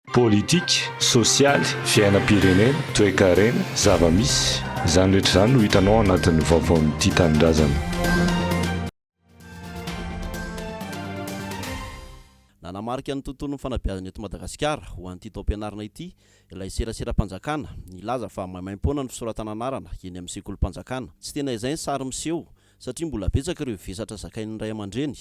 Politika, sosialy, fiainam-pirenena, toekarena, zava-misy, izany rehetra izany no hitanao ao anatin'ny vaovaon'ny Tia Tanindrazana. Nanamarika ny tontolon'ny fanabeazana eto Madagasikara ho an'ity taom-pianarana ity ilay seraseram-panjakana, nilaza fa maimaim-poana ny fisoratana anarana eny amin'ny sekolim-panjakana. Tsy tena izay ny sary miseho, satria mbola betsaka ireo vesatra zakain'ny ray aman-dreny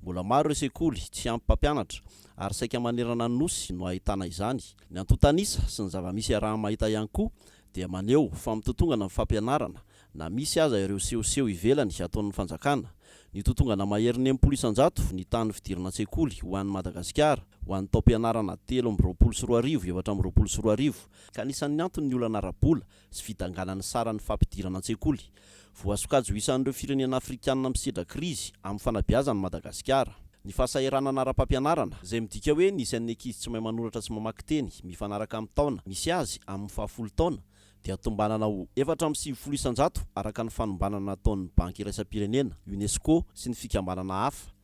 Mbola maro ireo sekoly tsy ampy mpampianatra ary saika manerana ny Nosy no ahitana izany. Ny antontan'isa sy ny zava-misy iaraha-mahita ihany koa dia maneho fa mitotongana ny fampianarana na misy aza ireo sehoseho ivelany ataon'ny fanjakana. Nitotongana maherin'ny enimpolo isan-jato ny tahan'ny fidirana an-tsekoly ho an'i Madagasikara ho an'ny taom-pianarana telo amby roapolo sy roa arivo efatra amby roapolo sy roa arivo, ka anisan'ny antony ny olana ara-bola. sy fidanganan'ny saran'ny fampidirana an-tsekoly. Voasokajy ho isan'ireo firenena afrikanina misedra krizy amin'ny fanabeazana i Madagasikara. Ny fahasahiranana ara-pampianarana, izay midika hoe ny isan'ny ankizy tsy mahay manoratra sy mamaky teny mifanaraka amin'ny taona misy azy amin'ny fahafolo taona, dia tombanana ho efatra amby sivifolo isan-jato araka ny fanombanana nataon'ny Banky Iraisam-pirenena, Unesco sy ny fikambanana hafa.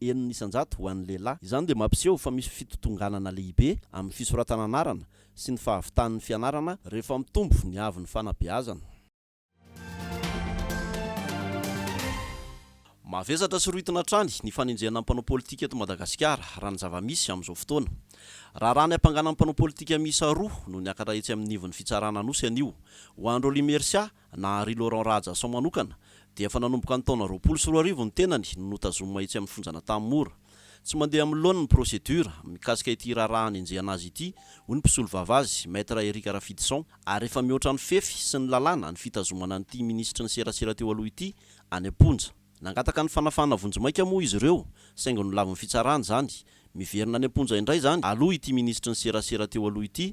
enina isan-jato ho an'ny lehilahy. Izany dia mampiseho fa misy fitontonganana lehibe amin'ny fisoratana anarana sy ny fahavitan'ny fianarana rehefa mitombo ny haavon'ny fanabeazana. Mavesatra sy rohitina hatrany ny fanenjehana ny mpanao politika eto Madagasikara, raha ny zava-misy amin'izao fotoana. Raharaha ny hampangana ny mpanao politika miisa roa no niakatra etsy amin'ny ivon'ny fitsarana Anosy anio. Ho an'i Rolly Mercia, na Ry Laurent Rahajason manokana, dia efa nanomboka ny taona roapolo sy roa arivo ny tenany no notazomina etsy amin'ny fonjan'Antaha Mora. Tsy mandeha amin'ny laoniny ny procédure, mikasika ity raharaha anenjehana azy ity, hoy ny mpisolovava azy, Maître Eric Rafidison, ary efa mihoatra ny fefy sy ny lalàna ny fitazomana an'ity minisitry ny serasera teo aloha ity any am-ponja. Nangataka ny fanafahana vonjimaika moa izy ireo, saingy nolavin'ny fitsarana izany. Miverina any am-ponja indray izany aloha ity minisitry ny serasera teo aloha ity,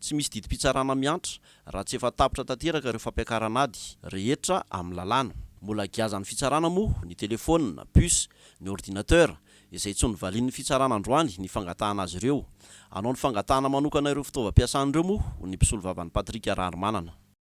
Tsy misy didim-pitsarana miantra raha tsy efa tapitra tanteraka ireo fampiakarana ady rehetra amin'ny lalàna. Mbola giazan'ny fitsarana moa ny telefaonina, puce, ny ordinateur, izay tsy novalian'ny fitsarana androany ny fangatahana azy ireo. Hanao ny fangatahana manokana ireo fitaovam-piasany ireo moa ny mpisolovavan'i Patrick Raharimanana.